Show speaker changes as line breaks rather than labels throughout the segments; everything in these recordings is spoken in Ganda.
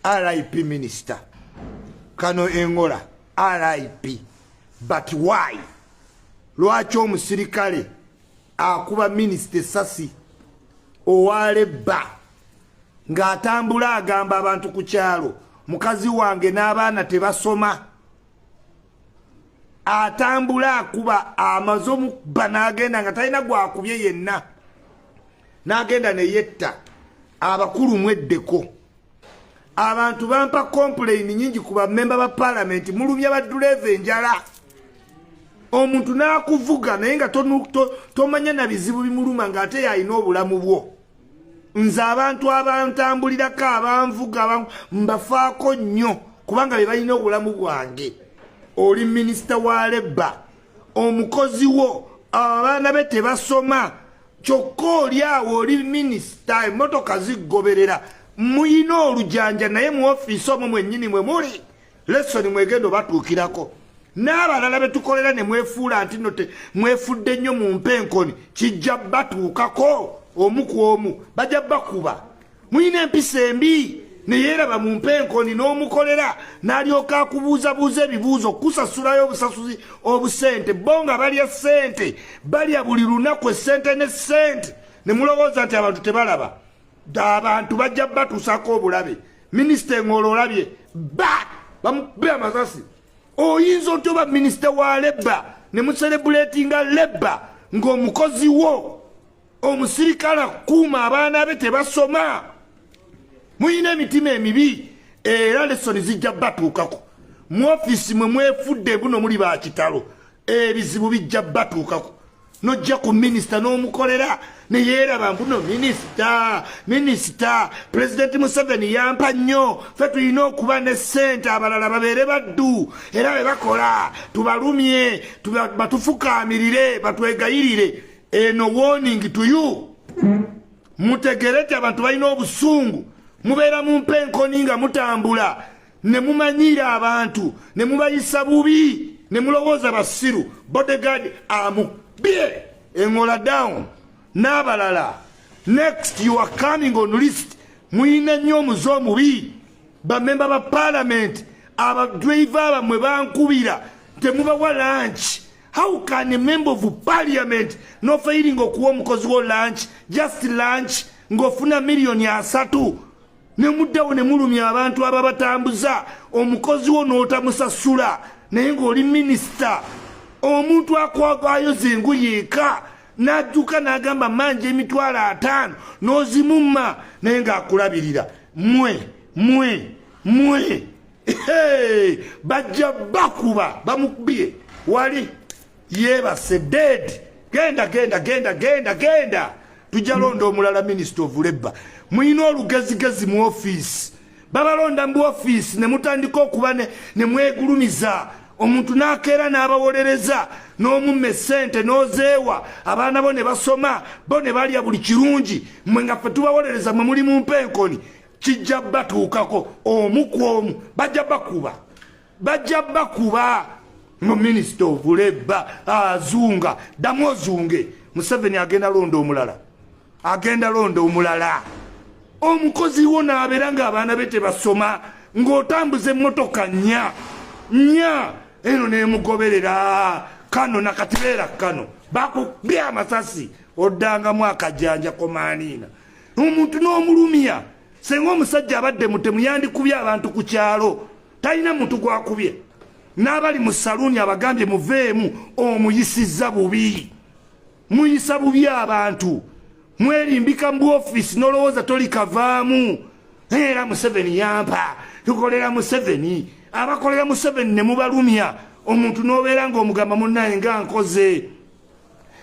RIP minister kano engola RIP but why lwaki omusirikale akuba minister sasi owale bba ng'atambula agamba abantu ku kyalo mukazi wange n'abaana tebasoma atambula akuba amaze omukubba n'agenda nga talina gwakubye yenna n'agenda ne yetta abakulu mweddeko abantu bampa kompuleyini nyingi ku bamemba ba palamenti mulumya badduleeva enjala omuntu n'akuvuga naye nga tomanya na bizibu bimuluma ng'ate yalina obulamu bwo nze abantu abantambulirako abanvuga mbafaako nnyo kubanga be balina obulamu bwange oli minisita wa lebba omukozi wo abaana be tebasoma kyokka oli awo oli minisita emmotoka ziggoberera muyina olujanja naye mu ofiisi omwo mwennyini mwe muli lesoni mwegendo batuukirako n'abalala be tukolera ne mwefuula nti no te mwefudde nnyo mu mpa enkoni kijja batuukako omu ku omu bajja bakuba mulina empisa embi neyeeraba mu mpa enkoni n'omukolera n'alyoka akubuuzabuuza ebibuuzo kusasulayo obusasuzi obusente bo nga balya ssente balya buli lunaku essente ne ssente ne mulowooza nti abantu tebalaba da abantu bajja batusako obulabe minister ngolo olabye ba bamubbe amasasi oyinza otya oba minister wa leba ne muserebulatinga leba ng'omukozi wo omusirikale akuuma abaana be tebasoma muyina emitima emibi era lesoni zijja batuukako mu ofiisi mwe mwefudde buno muli bakitalo ebizibu bijja batuukako nojja ku minisita n'omukolera neyeeraba mbuno minisita minisita pulezidenti museveni yampa nnyo fe tulina okuba ne ssente abalala babeere baddu era be bakola tubalumye batufukaamirire batwegayirire eno woningi tuyu mutegere ti abantu balina obusungu mubeera mu mpa enkoni nga mutambula ne mumanyiira abantu ne mubayisa bubi ne mulowooza basiru bodyguard amubye engola down n'abalala next you are coming on list muyina nnyo omuze omubi bamemba ba palamenti abadriva bamwe bankubira temubawa lanki how can a member of parliament nofairinga okuwa omukozi wo lunch just lunch ngofuna millioni asatu ne muddawo ne mulumya abantu ababatambuza omukozi wo n'otamusasula naye ng'oli minisita omuntu akwagwayo zengu yeeka n'adduka n'agamba manja emitwalo ataano n'ozimumma naye ng'akulabirira mwe mwe mwe bajja bakuba bamukubye wali yeebase deedi genda genda genda genda genda tujja londa omulala minisita of labor mulina olugezigezi mu ofiisi babalonda mu ofiisi ne mutandika okuba ne mwegulumiza omuntu n'akeera n'abawolereza n'omumma essente n'ozeewa abaana bo ne basoma bo ne balya buli kirungi mwe nga ffe tubawolereza mwe muli mu mpenkoni kijja batuukako omu ku omu bajja bakuba bajja bakuba no minister of labor azunga damu ozunge museveni agenda londa omulala agenda londa omulala omukozi wo nabeera nga abaana be tebasoma ng'otambuza emmotoka nya nya eno nemugoberera kano nakati beera kano bakukbya amasasi oddangamu akajanja komaaniina omuntu n'omulumya senga omusajja abadde mutemu yandikubye abantu ku kyalo talina muntu gwakubye n'abali mu saluuni abagambye muveemu omuyisizza bubi muyisa bubi abantu mwerimbika mu ofiisi n'olowooza toli kavaamu era museveni yampa tukolera museveni abakolera museveni ne mubalumya omuntu n'obeera ng'omugamba munnaye nga nkoze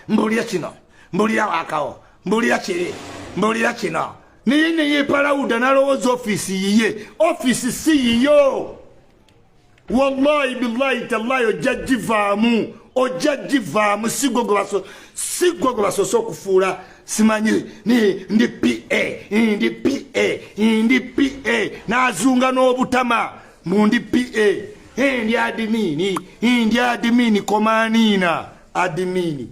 mbulira kino mbulira wakawo mbulira kiri mbulira kino naye naye palawuda nalowooza ofiisi yiye ofiisi si yiyo wallahi billahi tallahi ojja givaamu ojja givaamu sigwe gwe basoose okufuula simanyi ndi pa ndi pa ndi pa nazunga n'obutama mu ndi pa ndi adimini ndi adimini komaniina adimini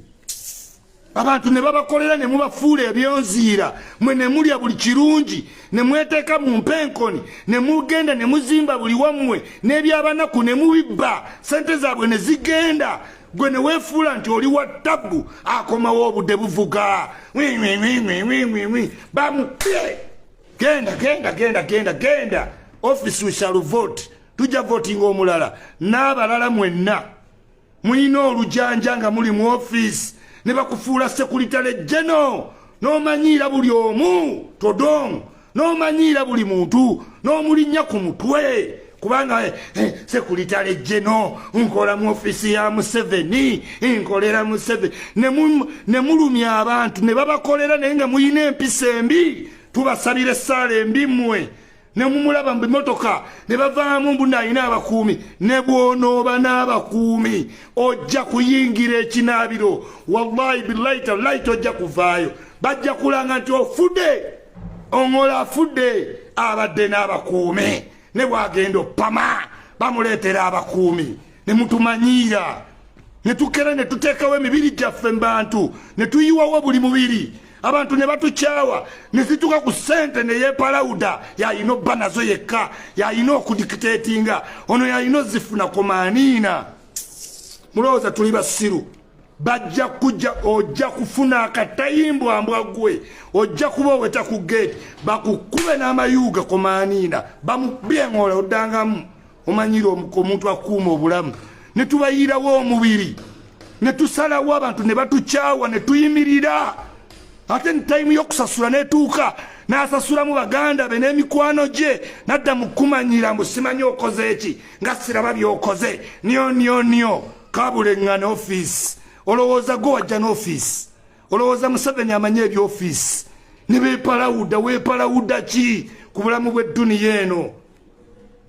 abantu ne babakolera ne mubafuula ebyonziira mwe ne mulya buli kirungi ne mweteeka mu mpenkoni ne mugenda ne muzimba buli wammwe n'ebyabanaku ne mubibba sente zaabwe ne zigenda gwe ne weefuula nti oli wa tabbu akomawo obudde buvuga wiwiwiwiwiwiwi bamupye genda genda genda genda genda office we shall vote tujja votinga omulala n'abalala mwenna mulina olujanja nga muli mu ofiisi ne bakufuula sekulitale jeno n'omanyiira buli omu todong n'omanyiira buli muntu n'omulinnya ku mutwe kubanga eh, eh, sekulitale jeno nkola mu ofiisi ya museveni nkolera museveni ne mulumya abantu ne babakolera naye nga mulina empisa embi tubasabira essaala embi mmwe nemumulaba mu bimotoka ne bavaamu mbu nalina abakuumi ne bwonooba n'abakuumi ojja kuyingira ekinaabiro wallahi billahi tallahi tojja kuvaayo bajja kulanga nti ofudde oŋola afudde abadde n'abakuumi ne bwagenda opama bamuleetera abakuumi ne mutumanyiira ne tukera ne tuteekawo emibiri gyaffe mu bantu ne tuyiwawo buli mubiri abantu ne batukyawa ne zituuka ku ssente ne yeepalawuda yalina obba nazo yekka yalina okudikiteetinga ono yalina ozifuna komaaniina mulowooza tuli basiru bajja kujja ojja kufuna akatayimbwa mbwa gwe ojja kuba oweta ku gate bakukube n'amayuuga komaniina bamubyengola oddangamu omanyira omuntu akuuma obulamu ne tubayiirawo omubiri ne tusalawo abantu ne batukyawa ne tuyimirira ate ni tayimu y'okusasula netuuka n'asasulamu baganda be n'emikwano gye nadda mu kumanyira mbu simanyi okoze eki nga siraba by'okoze nyo nyo nyo kabulengana office olowooza gwe wajja n'office olowooza museveni amanyi ebyoffice nebepalawuda wepalawuda ki ku bulamu bw'edduniya eno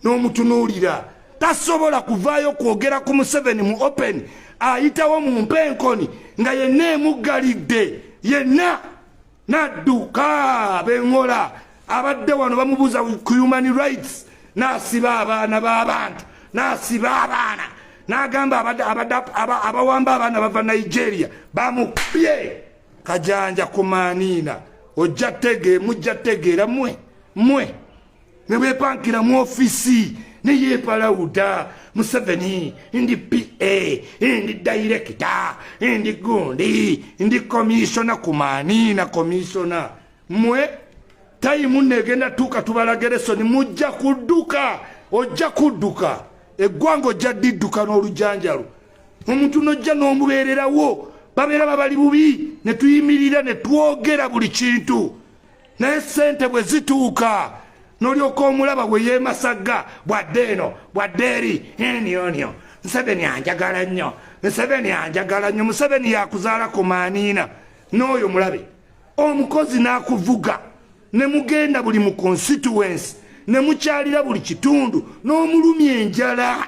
n'omutunuulira tasobola kuvaayo kwogera ku museveni mu open ayitawo mu mpenkoni nga yenna emuggalidde yenna nadduka bengola abadde wano bamubuuza ku human rights nasiba abaana babantu nasiba abaana nagamba abawamba abaana bava nigeria bamupye kajanja kumaniina ojja tege mujja tegeera mwe mwe ne bwepankira mu ofisi ne yeepalawuda museveni ndi pa ndi dayirekita ndi gundi ndi komisona kumani na komisona mwe tayimu negenda tuuka tubalageresoni mujja kudduka ojja kudduka eggwanga ojja didduka n'olujanjalo omuntu nojja n'omubeererawo babeera babali bubi ne tuyimirira ne twogera buli kintu naye sente bwe zituuka nolyoka omulaba bwe yemasagga bwadde eno bwadde eri enionio museveni anjagala nnyo museveni anjagala nnyo museveni yakuzaala ku maaniina n'oyo mulabe omukozi n'akuvuga ne mugenda buli mu constituensi ne mukyalira buli kitundu n'omulumya enjala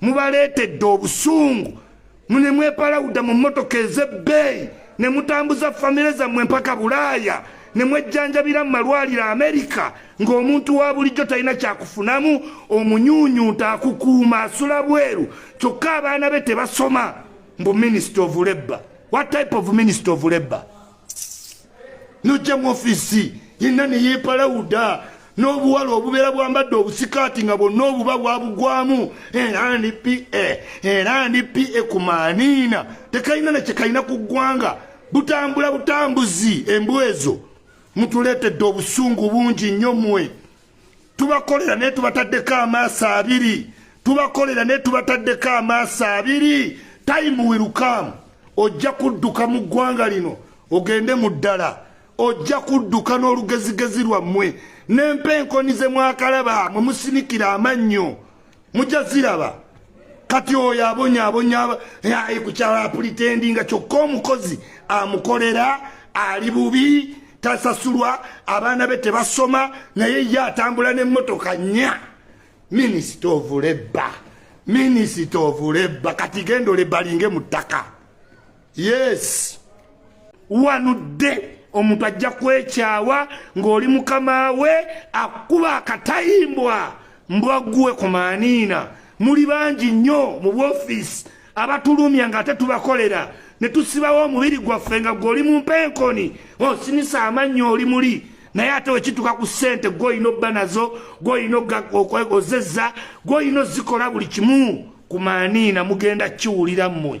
mubaleetedde obusungu mune mwepalawuda mu mmotoka ez'ebbeeyi ne mutambuza famire zammwe mpaka bulaaya ne mwejjanjabira mu malwaliro amerika ng'omuntu wa bulijjo talina kyakufunamu omunyuunyunta akukuuma asula bweru kyokka abaana be tebasoma mbu minisita of labor what type of minisita of labor nojja mu ofisi yenna neyepalawuda n'obuwala obubeera bwambadde obusikaati nga bwonna obuba bwabugwamu era ndi pa era ndi pa ku maaniina tekalina nekyekalina ku ggwanga butambula butambuzi embwezo mutuleetedde obusungu bungi nnyo mwe tubakolera naye tubataddeko amaaso abiri tubakolera naye tubataddeko amaaso abiri time will come ojja kudduka mu ggwanga lino ogende mu ddala ojja kudduka n'olugezigezi lwammwe n'empa enkoni ze mwakalaba mwe musinikira amannyo mujja ziraba kati oyo abonyabonya ayi kukyala apulitendi nga kyokka omukozi amukolera ali bubi tasasulwa abaana be tebasoma naye ye atambula nemmotoka nya minisita ovulebba minisita ovulebba kati genda olebalinge mu ttaka yes wanudde omuntu ajja kwekyawa ng'oli mukama we akuba akatayimbwa mbwaguwe ku maaniina muli bangi nnyo mu bwofiisi abatulumya ng'ate tubakolera ne tusibawo omubiri gwaffe nga gwe oli mu mpenkoni osinisa oh, amannyo oli muli naye ate wekituka ku ssente gwoyina obba nazo gwoyina ozezza gwoyina ozikola buli kimu ku maaniina mugenda kiwulira mmwe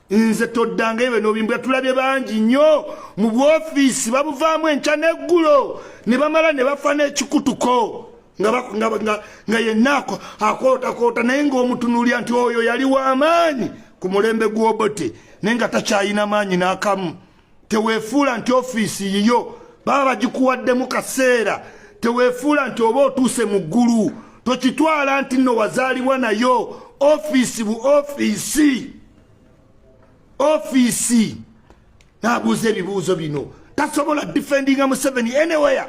nze toddanga ebyo nobimbwa tulabye bangi nnyo mu bwofiisi babuvaamu enkya n'eggulo ne bamala ne bafa n'ekikutuko nga yenna akootakoota naye ng'omutunuulya nti oyo yali w'amaanyi ku mulembe gw'obote naye nga takyayina maanyi n'akamu tewefuula nti ofiisi yiyo baba bagikuwaddemu kaseera tewefuula nti oba otuuse mu ggulu tokitwala nti nno wazaalibwa nayo ofiisi bu ofiisi ofiisi nabuuza ebibuuzo bino tasobola difendinga museveni anywhere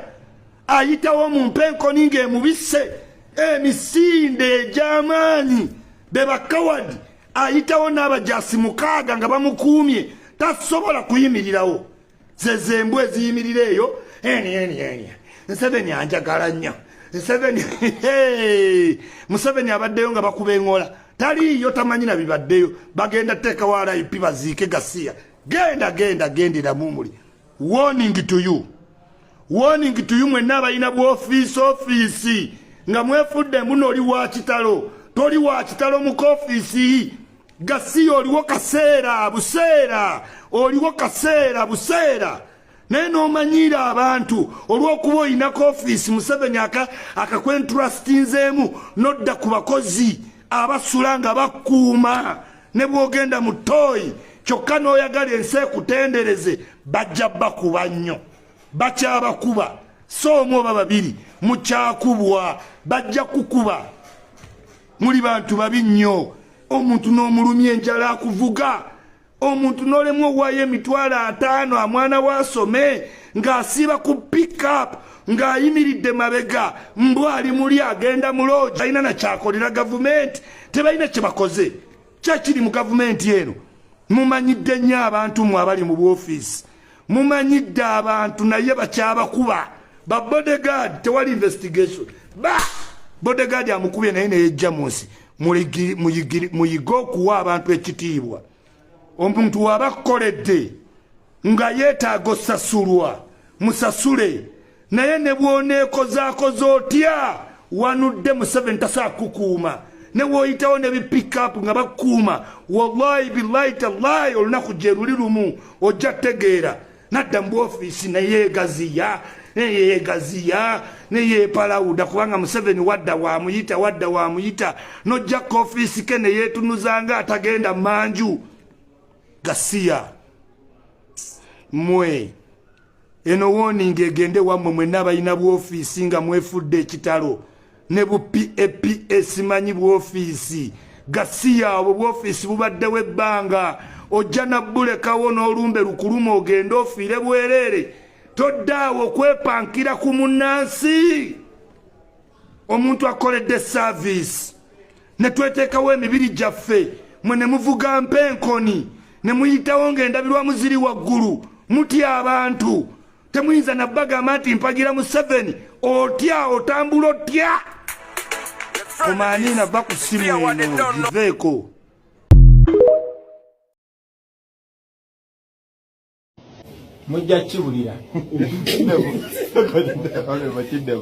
ayitawo mu mpenkoni ng'emubisse emisinde egy'amaanyi bebakawadi ayitawo n'abajaasi mukaaga nga bamukuumye tasobola kuyimirirawo zezembwa eziyimirira eyo eni eni eni nseveni anjagala nnyo nseveni museveni abaddeyo nga bakuba eŋola taliiyo tamanyi na bibaddeyo bagenda teekawo rip baziike gasiya genda genda gendera mumuli warning to you warning to you mwenna abalina bwofiisi ofiisi nga mwefudde mbuno oli wa kitalo toli wa kitalo mu kofiisi gasiya oliwo kaseera buseera oliwo kaseera buseera naye nomanyiira abantu olwokuba olina kofiisi museveni akakwentrastinzeemu nodda ku bakozi abasula nga bakuuma ne bwogenda mu tooyi kyokka n'oyagala ensi ekutendereze bajja bakuba nnyo bakyabakuba so omu oba babiri mukyakubwa bajja kukuba muli bantu babi nnyo omuntu n'omulumya enjala akuvuga omuntu nolemwa owaayo emitwalo ataano amwana we asome ng'asiiba ku pickup ng'ayimiridde mabega mbu ali muli agenda mu loogi talina nakyakolera gavumenti tebalina kye bakoze kyakiri mu gavumenti eno mumanyidde nnyo abantu mwe abali mu bwofiisi mumanyidde abantu naye bakyabakuba ba bodegaadi tewali investigation ba bodegaadi amukubye naye neyejja mu nsi muyige okuwa abantu ekitiibwa omuntu waba akkoledde nga yeetaaga osasulwa musasule naye ne bwoneekozaakoza otya wanudde museveni tasaakukuuma ne woyitawo ne bipikapu nga bakukuuma wallahi billahi tallahi olunaku gye luli lumu ojja tegeera nadda mu ofiisi neyeegaziya neyeegaziya neyeepalawuda kubanga museveni wadda waamuyita wadda waamuyita nojja ku ofiisi ke neyeetunuza nga atagenda manju gasiya mwe eno wooninga egende wammwe mwenna abalina bwofiisi nga mwefudde ekitalo ne bu PAPS manyi bwofiisi gasiya obwo bwofiisi bubaddewo ebbanga ojja nabbulekawo n'olumbe lukuluma ogende ofiire bwereere toddaawo okwepankira ku munnansi omuntu akoledde saaviisi ne tweteekawo emibiri gyaffe mwe ne muvuga mpa enkoni ne muyitawo ng'endabirwamu ziri waggulu mutya abantu temuyinza nabagamba nti mpagira museveni otya otambula otya omanina va ku simu eno giveeko
mujja kiwulira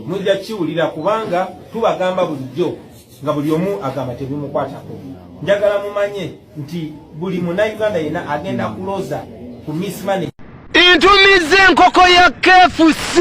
mujja kiwulira kubanga tubagamba bulijjo nga buli omu agamba tebimukwatako njagala mumanye nti buli munauganda yena agenda kuloza ku mismane ntumiza
enkoko ya kfc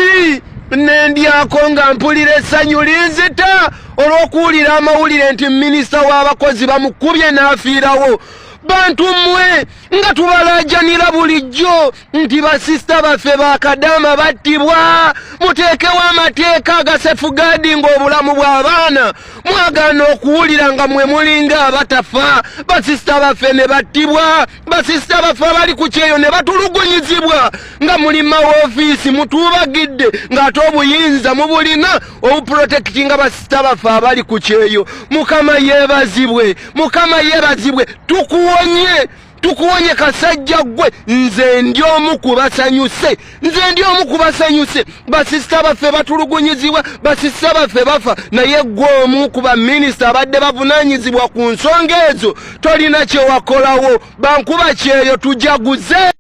nendyako nga mpulira essanyu linzita olw'okuwulira amawulire nti minisita w'abakozi bamukubye n'afiirawo bantu mmwe nga tubalaajanira bulijjo nti basisita baffe ba kadaama battibwa muteekewo amateeka agasefugaadi ng'obulamu bw'abaana mwagaana okuwulira nga mwe mulinga abatafa basisita baffe ne battibwa basisita baffe abali ku kyeyo ne batulugunyizibwa nga muli mawofiisi mutuubagidde ng'ate obuyinza mubulina obuprotekitinga basisita baffe abali ku kyeyo mukama yeebazibwe mukama yeebazibwe tukuwonye tukuwonye kasajja gwe nze ndi omu ku basanyuse nze ndi omu ku basanyuse basisita baffe batulugunyizibwa basisita baffe bafa naye gwe omu ku baminisita abadde bavunanyizibwa ku nsonga ezo tolina kyewakolawo bankuba kyeyo tujaguze